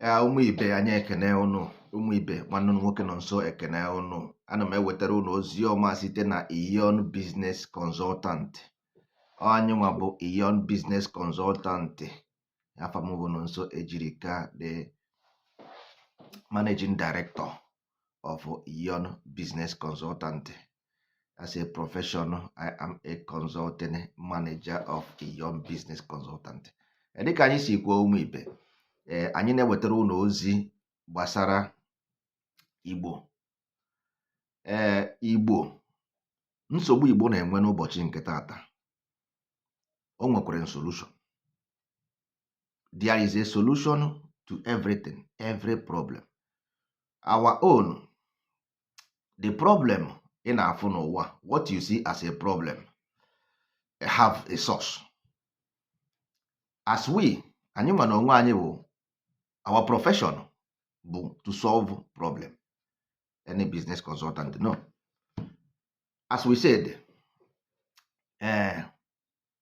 ya ụmụ ibe anyị ekene ụnụ ụmụ ibe nwanne ụnụ nwoke Nonso ekene ụnụ ana m ewetara ụnụ ozi ọma site na Iyon Business Consultant anyị nwa bụ Iyon Business Consultant afa m bụ Nonso Ejirika the managing director of Iyon Business Consultant. As a profession, I am a consulting manager of Iyon Business Consultant. Eh, dịka anyị si kwuo ụmụ ibe eh, anyị na-ewetara ụnụ ozi gbasara Igbo ee eh, Igbo nsogbu Igbo na-enwe n'ụbọchị nke taata o nwekwara solution there is a solution to everything every problem our own the problem ị na-afụ n'ụwa what you see as a problem have a source as we anyị nwa na onwe anyị bụ our profession bụ to solve problem any business consultant no as we said eh,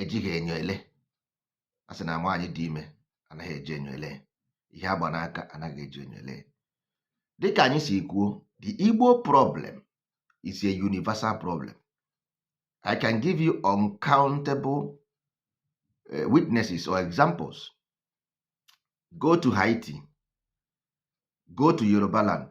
ejighị enyo ele a sị na nwaanyị dị ime anaghị eji enyo ele ihe agba n'aka anaghị eji enyo ele dịka anyị si kwuo the Igbo problem is a universal problem I can give you uncountable eh, witnesses or examples go to Haiti go to Yoruba land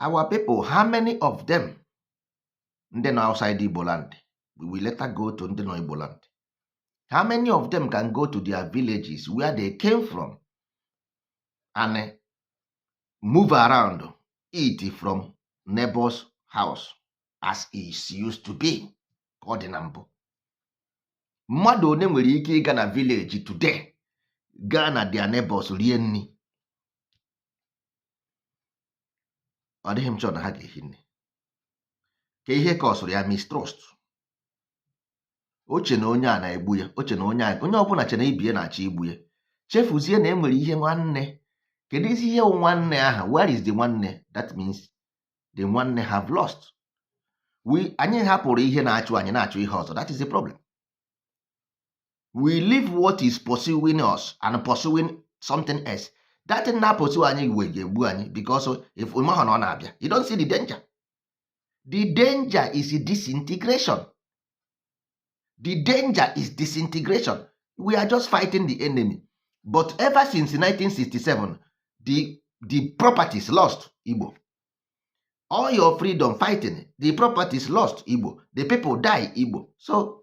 our people how many of them ndị nọ outside Igbo land we will later go to ndị nọ Igbo land how many of them can go to their villages where they came from and eh, move around eat from neighbor's house as it used to be ka ọ dị na mbụ mmadụ one nwere ike ịga na village today gaa na their neighbors rie nri ọ dịghị m chọọ na ha ga-ehi nne kee ihe causeụrụ ya mistrust o che na onye a na-egbu ya o che na onye a onye ọbụla che na ibe ya na-achọ igbu ya chefuzie na e nwere ihe nwanne keduzi ihe nwanne ahụ where is the nwanne that means the nwanne have lost we anyị hapụrụ ihe na-achụ anyị na-achụ ihe ọzọ that is the problem we leave what is pursuing us and pursuing something else that thing na pursue anyị we ga-egbu anyị because if we mahụ na ọ na-abịa you don't see the danger the danger is disintegration the danger is disintegration we are just fighting the enemy but ever since 1967 the the properties lost Igbo all your freedom fighting the properties lost igbo the people die igbo so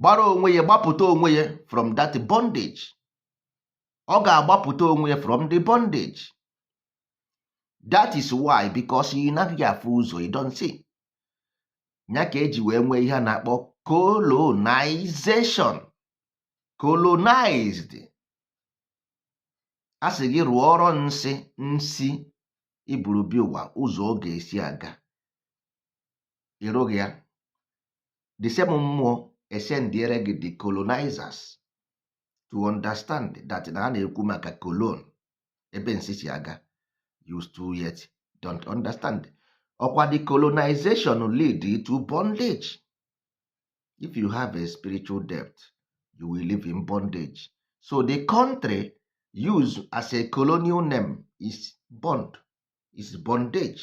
gbara onwe ya gbapụta onwe ya from that bondage ọ ga-agbapụta onwe ya from the bondage that is why because ị naghị afụ ụzọ you don't see ya ka e ji wee nwee ihe a na-akpọ colonization colonized a sị gị rụọ ọrụ nsị nsi iburu bi ụwa ụzọ ọ ga-esi aga ịrụghị ya the same mmụọ esendiere gị the colonizers to understand that na a na-ekwu maka colon ebe nsi si aga you still yet don't understand ọkwa the colonization lead to bondage if you have a spiritual debt you will live in bondage so the country used as a colonial name is bond is bondage